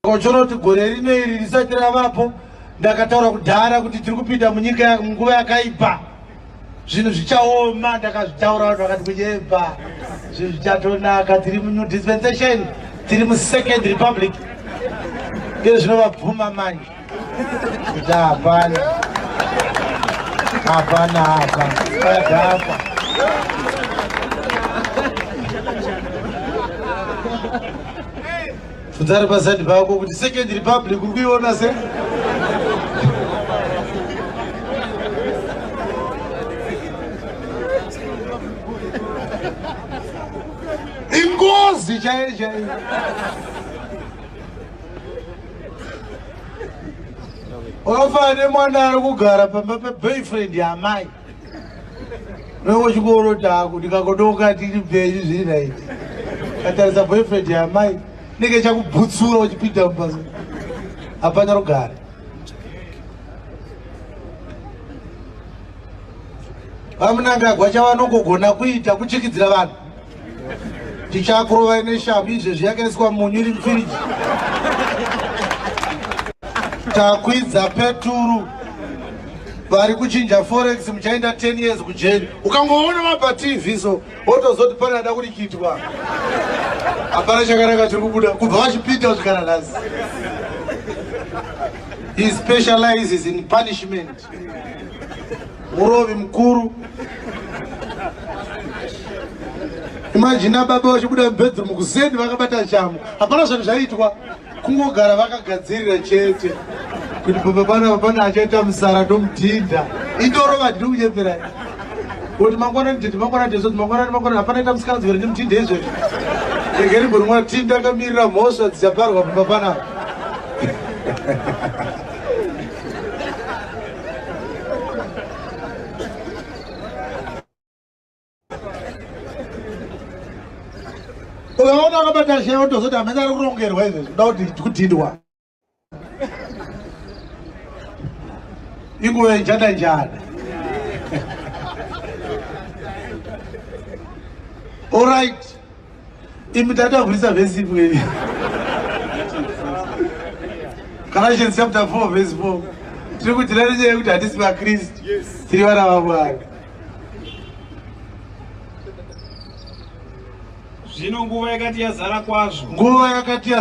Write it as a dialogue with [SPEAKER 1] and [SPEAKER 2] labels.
[SPEAKER 1] Kochona kuti gore rino iri risati ravapo ndakataura kudhara kuti tiri kupinda munyika munguva yakaipa zvinhu zvichaoma ndakazvitaura vanhu vakati kunyeba zvinhu zvichatonaka tiri munew dispensation tiri musecond republic ndezvinovabvuma manje kuti hapana hapana apa adhakwa bvunzari pasadi pako kuti second republic uri kuiona se ingozi chaiyo chaiyo Wafa nemwana ari kugara pamba peboyfriend yamai. Noko chikoro taku ndikakodoka tiri mberi zviri right. Katarisa boyfriend yamai nenge chakubutsura uchipinda mubasa. Hapana rugare. Vamunangagwa chavanongogona kuita kuchikidzira vanhu. tichakurovai neshavi izvezvi yakaiswa munyu iri mufiriji takwidza peturu vari kuchinja forex muchaenda 10 years kujeri ukangoona vabva tv so wotozoti pane ada kurikitwa hapana chakanaka chiri kubuda kubva vachipita kusvikana nhasi he specializes in punishment Murovi mukuru. Imagine baba vachibuda mubedroom kuzeni vakabata chamu. Hapana zvanhu zvaitwa. Kungogara vakagadzirira chete. Kuti baba pana pana achaita musara ndomudhinda. Indorova ndinokunyepera. Kuti mangwana nditi mangwana ndizvo mangwana mangwana hapana ita musikana dzivere ndimudhinda izvo. Egeri murumwa tinda kamirira mhosva dzichaparwa baba pana. ukaona akabata shaya otozoti hamene ari kurongerwa izvi zvoda kuti kudhindwa inguva njada njada All right. Imi tatavhurisa vhesi imweni. Galatians chapter 4 verse 4. Tiri kudzira nenyaya yekuti hatisi vaKristu. Tiri vana vaMwari.
[SPEAKER 2] Zvino nguva yakati yazara kwazvo. Nguva yakati yazara.